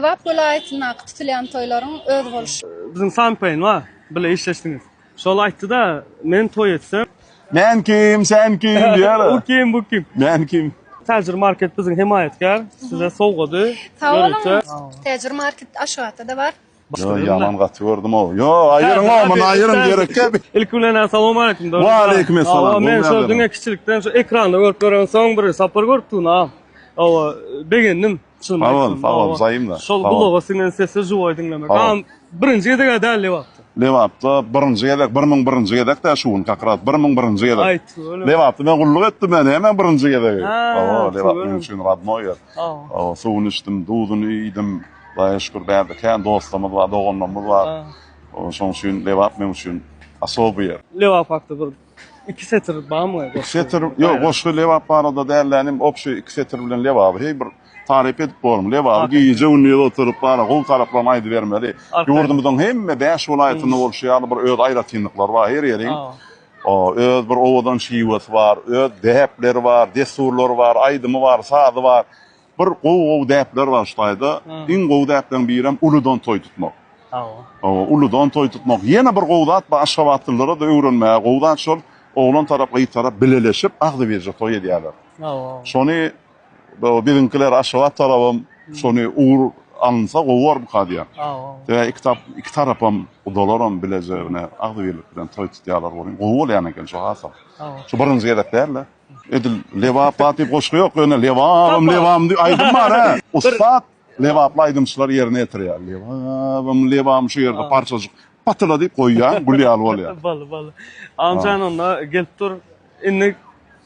Lebap welaýatyndaky tutulýan toýlaryň özboluşy. Biziň Sanpaýyn bar, bile işleşdiňiz. Şol aýtdy-da, Men toý etsem. Men kim, sen kim diýýär-ä. U kim, bu kim. Men kim. Täjir market biziň hemaýatkär. Size sowgady. Sag boluň. Täjir market Aşgabatda-da bar. Ýo, ýaman gaty gördüm-ow. Ýo, aýyryň-ow, muny aýyryň gerekkä. Ilki bilen-ä salam aleýkum. Waleýkumessalam. Hawa, men şol diňe kiçilikden şu ekranda görüp ýören soň bir Sapar görüpdigini-ä. Hawa, begendim. Sag bol, sag bol, zaýym da. Şol gulaga siňen sesi juwaý diňlemek. Agam, birinji gezeg-ä däl Lebapda. Lebapda birinji gezek, bir müň birinji gezek-dä şu gün, kak raz, bir müň birinji gezek. Aý, tüweleme. Lebapda men gulluk etdim, men hemem birinji gezegi. Hawa, Lebap meniň üçin rodnoý ýer. Hawa. Suwuny içdim, duzuny iýdim. Hudaýa şükür, bärde kän dostlarymyz bar, doganlarymyz bar. Şonuň üçin Lebap meniň üçin osobyý ýer. Lebap hakda bir Iki setir bamy goşgy? Setir, ýok goşgy lebap barada däl de inim obşy iki setir bilen lebaby heý bir taryp edip bormy lebaby gije gündiz oturyp bara gowy taraplaryny aýdybermeli ýurdumyzyň hemme bäş welaýatynda bolşy ýaly bir öz aýratynlyklary bar her ýeriň öz bir owadan şiwesi bar öz däpleri bar dessurlary bar aýdymy bar sazy bar Bir gowy gowy däpler bar şu taýda. Iň gowy däpleriň birem uludan toý tutmak. Hawa. Hawa, uludan toý tutmak. Ýene bir gowy zat bar, aşgabatlylara-da öwrenmäge gowy zat şol, oglan tarap, gyz tarap bileleşip agzybirje toý edýärler. Hawa. Şony biziňkiler Aşgabat tarabam şony ugur alynsa gowy bormyka diýýän. Hawa. Sebäbi iki tap, iki tarapam, gudalaram bileje agzybirlik bilen toý tutýarlar welin, gowy bolýan eken şu hasam. Hawa. Şu birinji gezek däl-de. Edil Lebap at diýip goşgy ýok, ýöne Lebabym, Lebabym diýip aýdym bar ha. Ussat Lebaply aýdymçylar ýerine ýetirýär. Lebabym, Lebabym şu ýerde parçajyk patyla diýip goýýaň, gül ýaly bolýar. Boldy, boldy. Agamjan onda gelip dur. Indi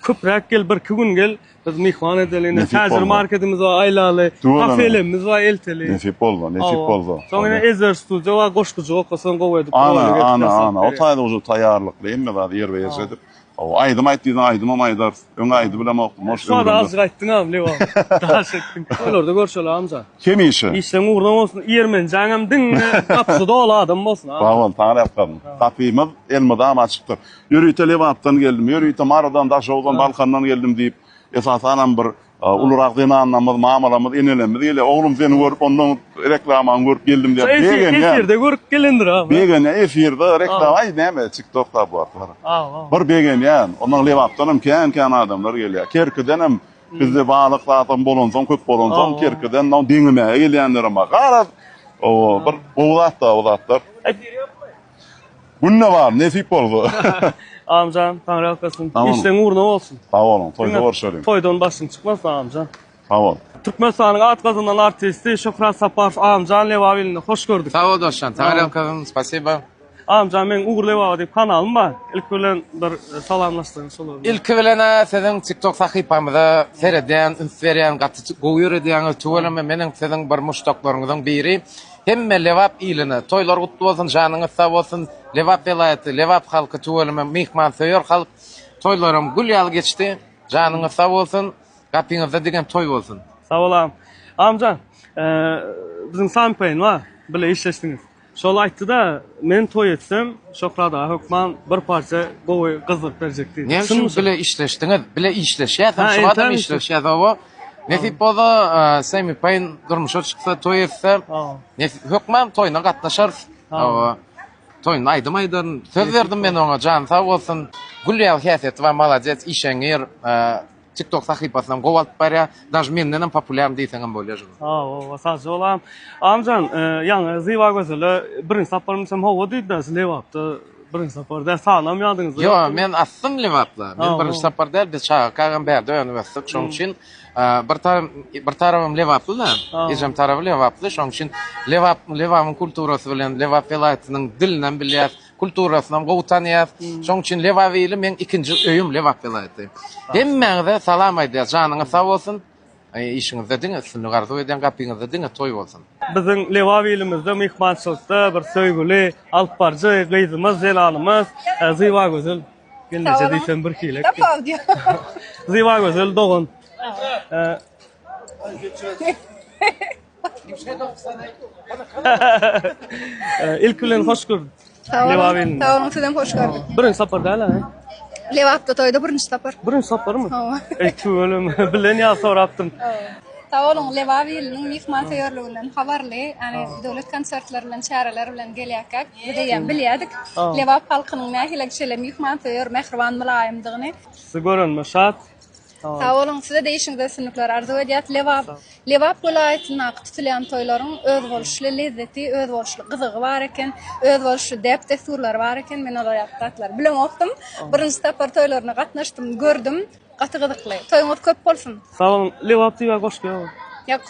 köpräk gel, birki gün gel. Biz myhman edeli, indi täze marketimiz bar, aýlaly. Kafelerimiz bar, elteli. Nesip bolsa, nesip bolsa. Soň ýene Ezer studio bar, goşgujyk okasaň gowy edip. Ana, ana, ana. O taýda uje taýýarlykly hemme zady ýerbe-ýerje edip. Hawa aýdym aýt diýseň aýdymam aýdarys. Öňe aýdyp bilemokdym hoş ömrümde. Şuada azyk aýtdyňam Lewan. Daş etdiň. Toýlarda görşeli Hamza. Hemişe. Işleň ugruna bolsun. Ýermenjaňam diňňe gapysy doly adam bolsun Hamza. Sagbol Taňry ýalkasyn. Gapymyz elmydama açykdyr. Ýörite Lebapdan geldim. Ýörite Marydan, Daşoguzdan, Balkandan geldim diýip esasanam bir Ulurak zenanlarymyz, mamalarymyz, enelerimiz gelýär. Oglum seni görüp, ondan reklamany görüp geldim diýip begenýär. Şo efirde görüp gelendir a. Begenýär efirde reklama, aý näme TikTokda bu atlar. Bir begenýän. Ondan Lebapdanam kän-kän adamlar gelýär. Kerkidenem bizde balyk zatam bolansoň, köp bolansoň Kerkiden deňemäge gelýänlerem bar. Garaz, bir gowy zat-da bu zatlar. Günde bar, nesip bolsa. Amjan, taňry ýalkasyn. Amin. Işleň ugruna bolsun. Sag boluň, toýda Diňe görşeliň. Toýdan başyň çykmasyn amjan. Sag bol. Türkmenistanyň at gazanan artisti Şöhrat Saparow amjan Lebap ilinde hoş gördük. Sag bol dostjan, taňry ýalkasyn, spasiba. Amjan meniň Ugur Lebaba diýip kanalym bar. Ilki bilen bir e, salamlaşdyryň şolar bilen. Ilki bilen e, siziň TikTok sahypamyza seredýän, üns berýän, gaty gowy ýöredýäňiz. Tüweleme meniň siziň bir muşdaklaryňyzyň biri. Hemme Lebap iline toýlar gutly bolsun janyňyz sag bolsun Lebap welaýaty Lebap halky tüweleme myhman söýer halk toýlaram gül ýaly geçdi janyňyz sag bolsun gapyňyzda digen toý bolsun. Sag bol agam. Agamjan biziň Sampeýn bar bile işleşdiňiz. Şol aýtdyda men toý etsem Şöhrat aga hökman bir parça gowy gyzgyrt berjek diýdi. Näme üçin bile işleşdiňiz? Bile işleşýäs hem şu adam işleşýäs oba Nesip bolsa Semi Pain durmuşa çyksa toý etse hökman toýuna gatnaşarys. Toýun aýdym aýdan söz berdim men ona jan sag bolsun. Gül ýa häsiýet we malades işeňir. TikTok sahypasyna gowy alyp barýar. Daj menden hem populýarny diýseň hem bolýar. Ha, o, sag bol am. Amjan, ýaňy Zywa gözele birinji saparymda hem howa diýdi-de, siz lebapda Birinji sapar däl, salam ýadyňyzda ýokmy? Ýok, men asdym Lebapda. Men birinji sapar däl, biz çaga kakam bärde önüp ösdük. Şonuň üçin bir tarym, bir tarabym Lebaply-da, ejem taraby Lebaply. Şonuň üçin Lebap, Lebapyň kulturasy bilen, Lebap welaýatynyň dilinem bilýäs, kulturasynam gowy tanýas. Şonuň üçin Lebap ili meň ikinji öýüm Lebap welaýaty. Hemmäňize salam aýdýas, janyňyz sag bolsun. Işiňizde diňe üstünlik arzuw edýän gapyňyzda diňe toý bolsun. Biziň Lebap ilimizde myhmançylykda bir söýgüli alyp baryjy gyzymyz Zelalymyz Zybagözel gelneje diýsem birhili Zybagözel dogan. Ilk bilen hoş gördük. Sag boluň. Sag boluň, sizem hoş gördük. Birinji sapar däl-ä? Lebapda toýda birinji sapar. Birinji saparymy? Hawa. Eý, tüweleme. Bilen ýa sorapdym. Sag boluň, Lebap iliniň myhmansöýerliginden habarly, ýagny döwlet konsertleri bilen, çäreler bilen gelýärkäk, biz eýýäm bilýärdik. Lebap halkynyň nähili şeýle myhmansöýer, mähriban, mylaýymdygyny. Sizi görenime şat. Sag boluň, size-de işiňizde üstünlikler arzuw edýäs. Lebap, Lebap welaýatyndaky tutulýan toýlaryň özboluşly lezzeti, özboluşly gyzygy bar eken, özboluşly däp-dessurlary bar eken. Men olar ýaly zatlary bilemokdym. Birinji sapar toýlaryna gatnaşdym, gördüm. Gaty gyzykly. Toýuňyz köp bolsun! Sag boluň. Lebap diýibä goşgy ýok. Ýok.